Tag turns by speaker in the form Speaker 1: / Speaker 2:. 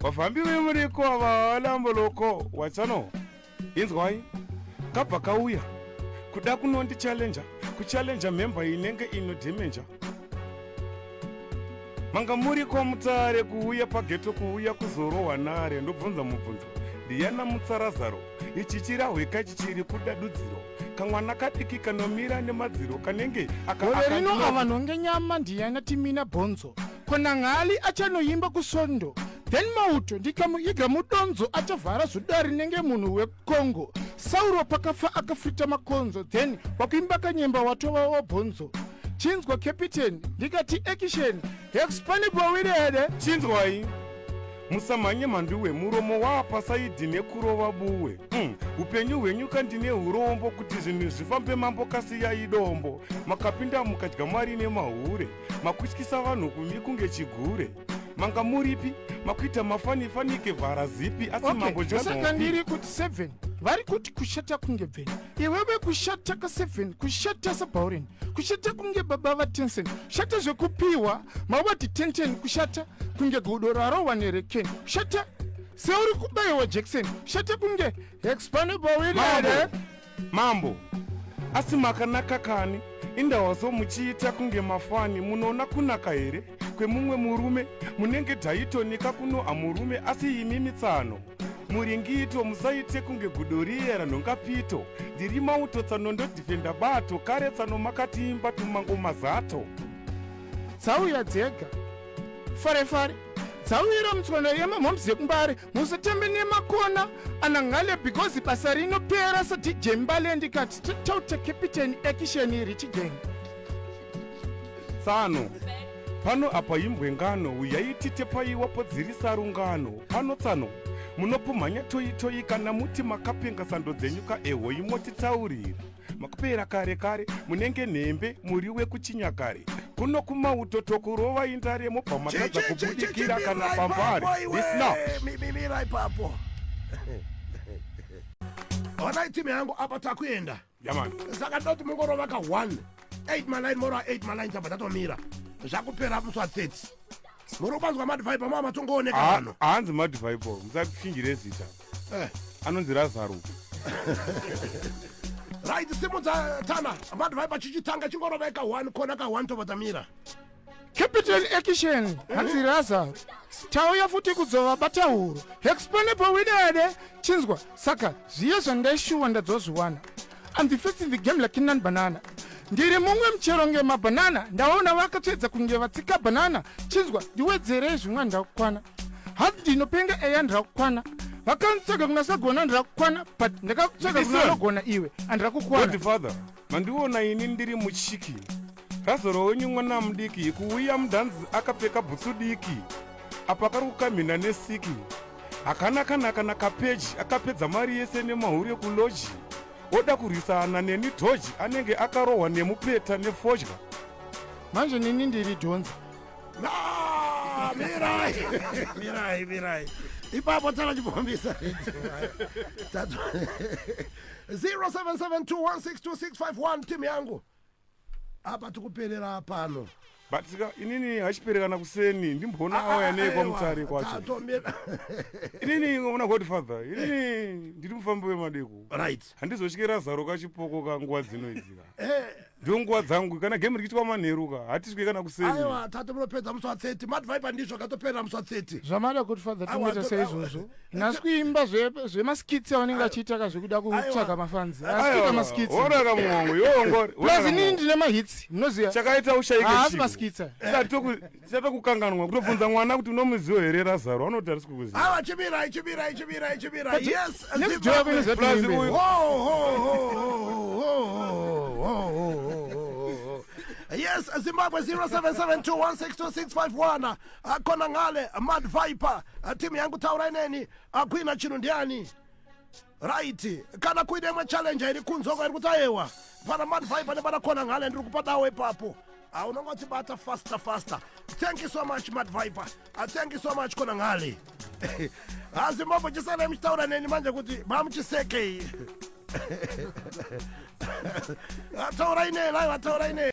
Speaker 1: vafambi vemuriko avalamboloko watsano inzwai kabva kauya kuda kunondi challenger kuchallenger member inenge ino demenja manga muri kwamutsare kuuya pageto kuuya kuzorohwa nare ndobvunza mubvunzo ndiyana mutsarazaro ichi chirahweka chichiri kuda dudziro kamwana kadiki kanomira nemadziro kanenge akaorerino
Speaker 2: avanhu ngenyama ndiyana timina bhonzo kona ng'ali achanoimba kusondo then mauto ndikamuiga mudonzo achavhara zuda rinenge munhu wekongo sauro pakafa akafita makonzo then wakuimba kanyemba watova wabhonzo chinzwa capiteni ndikati ekisheni hexpanibowiri here chinzwai
Speaker 1: musamhanye mhanduwe muromo waapasaidhi nekurova buwe mm. upenyu hwenyu kandine urombo kuti zvinhu zvifambe mambo kasiyai dombo makapinda mukadya mari nemahure makutyisa vanhu kumi kunge chigure manga muripi makuita mafanifanike vhara zipi asi okay. mambo josaka ndiri kuti
Speaker 2: seven vari kuti kushata kunge bveni iwewe kushata ka seven kushata sabhauren kushata kunge baba vatensen kushata zvekupiwa mawati tenten kushata kunge gudo rarowa nereken kushata seuri kubaiwa jackson kushata kunge hexpanebawirere Mambo,
Speaker 1: asi makanaka kani indawazo muchiita kunge mafani munoona kunaka here kwemumwe murume munenge taitonika kuno amurume asi imi mitsano muringito musaite kunge gudo riye ranhongapito ndiri mauto tsano ndodhifenda bato kare tsano makatiimba tumango mazato
Speaker 2: tsauya dzega fare fare dzauyira mutswanda yemamoms yekumbare musatambe nemakona anangale because basa rinopera sadj mbale ndikati totota captain action richigeng
Speaker 1: tsano pano apa imbwe ngano uyai titepaiwa podzirisa rungano pano tsano munopumhanya toyitoyi kana muti makapenga sando dzenyu ka ehoi motitaurira makupera kare kare munenge nhembe muri wekuchinyakare kuno kumauto tokurova indare mobva matadza kubudikira kana pambare isnamirai
Speaker 3: papo onai timu yangu apa takuenda yamani saka
Speaker 1: ndoti mungorova
Speaker 3: ka 1 8 maline moro 8 maline tabva tatomira zvakupera muswa 30 munofanzwa madvibe mava matongooneka pano haanzi madvibe
Speaker 1: musakuchinjire zita eh. anonzi razaro
Speaker 3: right simudza tana madvibe chichitanga chingoroveka one kona ka one tovadamira capital
Speaker 2: action eh? hanzi razaro tauya futi kudzova batauro exponable widede chinzwa saka zviye zvandaishuwa ndadzozviwana I'm the first in the game like Nan Banana. Ndiri mumwe muchero ngemabhanana ndaona vakatsvedza kunge vatsika bhanana chinzwa ndiwedzerei zvimwa ndakukwana hanzi ndinopenga eya ndirakukwana vakanitsvaga kuna sagona ndirakukwana but ndakakutsvaga kuna anogona iwe andirakukwana
Speaker 1: mandiona ini ndiri muchiki Razoro wenyu mwana mudiki kuuya mudhanzi akapfeka bhutsu diki apo akari kukamhina nesiki hakana kana kana kapeji akapedza mari yese nemahuri ekuloji oda kurwisana neni dhoji anenge akarohwa nemupeta nefodya manje
Speaker 2: nini ndiri dhonza mirai
Speaker 3: mirai mirai ipapo tsala chipombisa 0772162651 timu yangu apa tikuperera pano but sika inini
Speaker 1: hachiperekana kuseni ndimboona ah, auya ah, nei kwamutare kwacho inini una godfather inini ndiri mufambi wemadeko right handizosvike
Speaker 3: razaro
Speaker 1: kachipoko ka nguva dzino idzika eh. ndo nguva dzangu kana game rikiitwa manheru ka hatisvike kana kuseni aiwa tate munopedza
Speaker 3: musi wa 30 madvibe ndizvo akatoperera musi wa 30 zvamada godfather
Speaker 2: tinoita seizvozvo Nhasi kuimba zvemaskits zve avanenge vachiita ka zvekuda kutsvaga mafanzi asikuita maskits orara muhongo
Speaker 1: yongori plus inini ndine
Speaker 2: mahits munoziva chakaita ushaike haasi
Speaker 1: maskits
Speaker 2: chata
Speaker 1: kukanganwa kutobvunza mwana kuti unomuziwo here razaro anoti arisi kukuziva awa chimirai chimirai
Speaker 3: chimirai chimirai yes plus uyu Yes, Zimbabwe 0772162651. akona ngale mad viper timu yangu taurai neni akuina chinhu ndiani right kana kuine imwe challenge iri kunzoko iri kuti ayewa pana mad viper nepana kona ngale ndiri kupa dawo ipapo ah, unonga uchibata faster faster thank you so much mad viper ah, thank you so much kona ngale hazi ah, mambo chisanai muchitaura neni manje kuti mamuchisekei ataurai nei lai vataurai nei